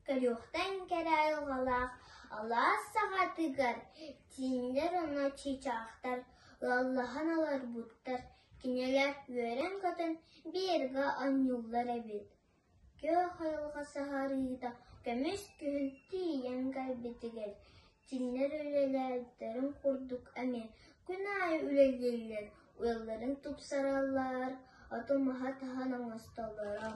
Көрүөхтэн кэрэ айылҕалаах алаас саҥатыгар тииннэр ону чыычаахтар лаллаһан олорбуттар, кинилэр үөрэн-көтөн биэргэ онньууллар эбит, күөх айылҕа сыһарыыта көмүс күһүн тиийэн кэлбитигэр тииннэр үлэлээбиттэрин курдук эмиэ күн аайы үлэлииллэр, ыалларын тупсараллар, оту-маһы таһан оҥостоллоро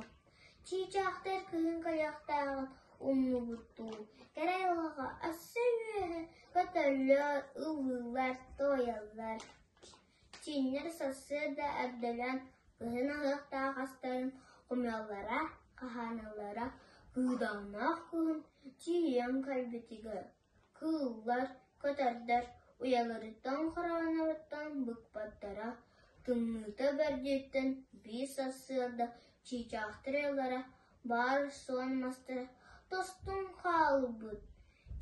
Чыычаахтар кыһын хайахтааҕын умнубуттуу, кэрэ айылҕаҕа өссө үөһэ көтөллөр, ыллыыллар, туойаллар. Чииннэр сарсыарда эрдэлэн кыһын аһыахтаах астарын хомуйаллара, хаһааналлара кыыдааннаах күн чиэйэн кэлбитигэр Кыыллар, көтөрдөр уйаларыттан хороонноруттан быкпаттара, тымныыта бэрдиттэн биир сарсыарда чыычаахтар ыаллара, баар суон мастара тостон хаалбыт.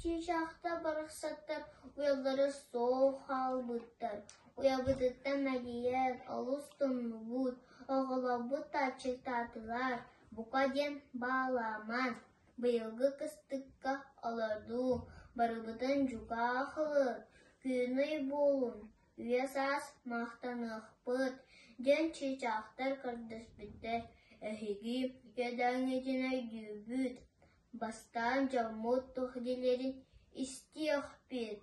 Чыычаахтар барахсаттар уйалара суох хаалбыттар. Уйабытыттан мэлийэн олус тумнубут, оҕолорбут тааччыктаатылар, бука диэн баалааман Быйылгы кыстыкка олордуу барыбытын дьукаах ылыҥ, кыынай буолуҥ, үйэ-саас махтаныахпыт, диэн чыычаахтар көрдөспүттэр. Эһиги иэдээҥҥитин өйдүүгүт, бастаан дьоммут туох диилэрин истиэхпит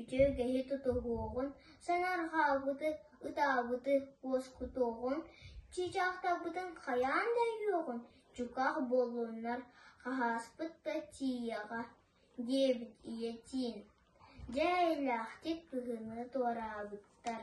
Үчүгэйи тутуһуоҕун, санаарҕаабыты, ытаабыты уоскутуоҕун, чыычаахтарбытын хайаан да өйүөҕүн, чуках буоллуннар, хаһааспыт да тиийиэҕэ, диэбит ийэтин. Дьэ, эйэлээхтик кыһыны туораабыттар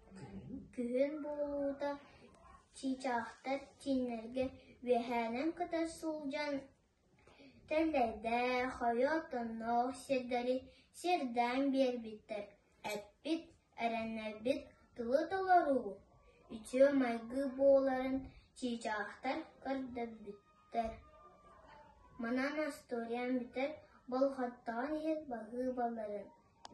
Күһүн буолуута чыычаахтар чииннэргэ үөһээнэн көтө сылдьан тэллэйдээх, ойоот-онноох сирдэри сиэрдээн биэрбиттэр. Эппит, эрэннэрбит тылы толоруу, үтүө майгы буоларын чыычаахтар көрдөрбүттэр. Манан остуоруйа бүтэр болҕомтоҕун иһин баһыыбаларын